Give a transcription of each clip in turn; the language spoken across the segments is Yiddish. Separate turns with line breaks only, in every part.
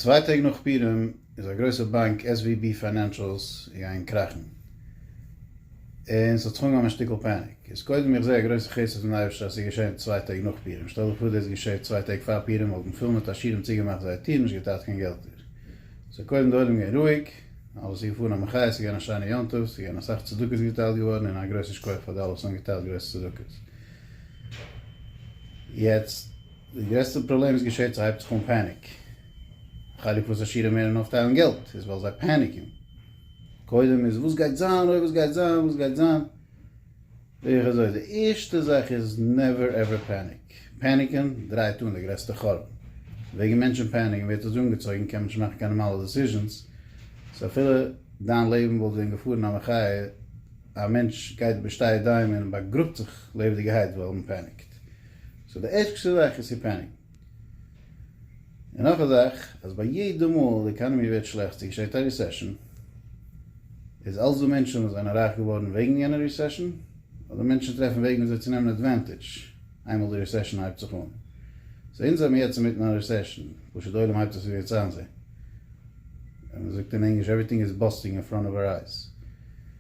צוויי טעג נאך פורים איז א גרויסע באנק SVB פיינענשעלס געגאנגען קראכן, און ס'האט זיך אנגעהויבן א שטיקל פעניק. איז קודם איך זעה א גרויסע חסד פון אייבערשטער אז ס'איז געשען צוויי טעג נאך פורים, שטעל דיך פאר דאס געשעט צוויי טעג פאר פורים וואלטן פול מיט עשירים צוגעמאכט זייער טיר און נישט געטארט קיין געלטער. ס'איז קודם די עולם געווען רואיג, אלעס איז געפארן א מחיה, ס'איז געווען א שיינע יום טוב, ס'איז געווען אסאך צדקות געטיילט געווארן און א גרויסע שכח פאר די אלע וואס האבן געטיילט גרויסע צדקות. יעצט. די גרעסטע פראבלעם וואס געשעט ס'הייבט זיך אן פעניק חלק פון סאשירן מערן אויפטיילן געלט איז ווייל זיי פעניקן קודם איז וואס גייט זיין אוי וואס גייט זיין וואס גייט זיין איך אזוי די ערשטע זאך איז נעווער עווער פעניק פעניקן דרייט אן די גרעסטע חורבן וועגן מענטשן פעניקן ווערט אזוי אנגעצויגן קען מען נישט מאכן קיין נארמאלע דעסיזשענס סאו אפילו דיין לעבן וואלט ווען געפארן א מחיה א מענטש גייט בשתי ידיים און באגראבט זיך לעבעדיגערהייט ווייל מען פעניקט. סאו די ערשטע זאך איז ספענדינג. און נאך א זאך, אז ביי יעדע מאל די עקאנעמי ווערט שלעכט, צו געשעט א ריסעשאן, איז אלס דא מענטשן וואס זענען רייך געווארן וועגן יענע ריסעשאן, אדער מענטשן טרעפן וועגן וויאזוי צו נעמען עדווענטידזש איינמאל די ריסעשאן הייבט זיך אן. סאו אונז זעמיר יעצט אינמיטן א ריסעשאן, פשוט די עולם הייבט עס אויף יעצט איינזעהן. ווי מ'זאגט אין ענגליש, עווריטינג איז באסטינג אין פראנט אוו אור אייז.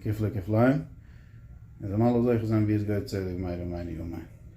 כפלי כפליים, און זיי זאלן אלע זוכה זיין ווי עס געהוירט צדיק מאיר און מיין יאר מיין.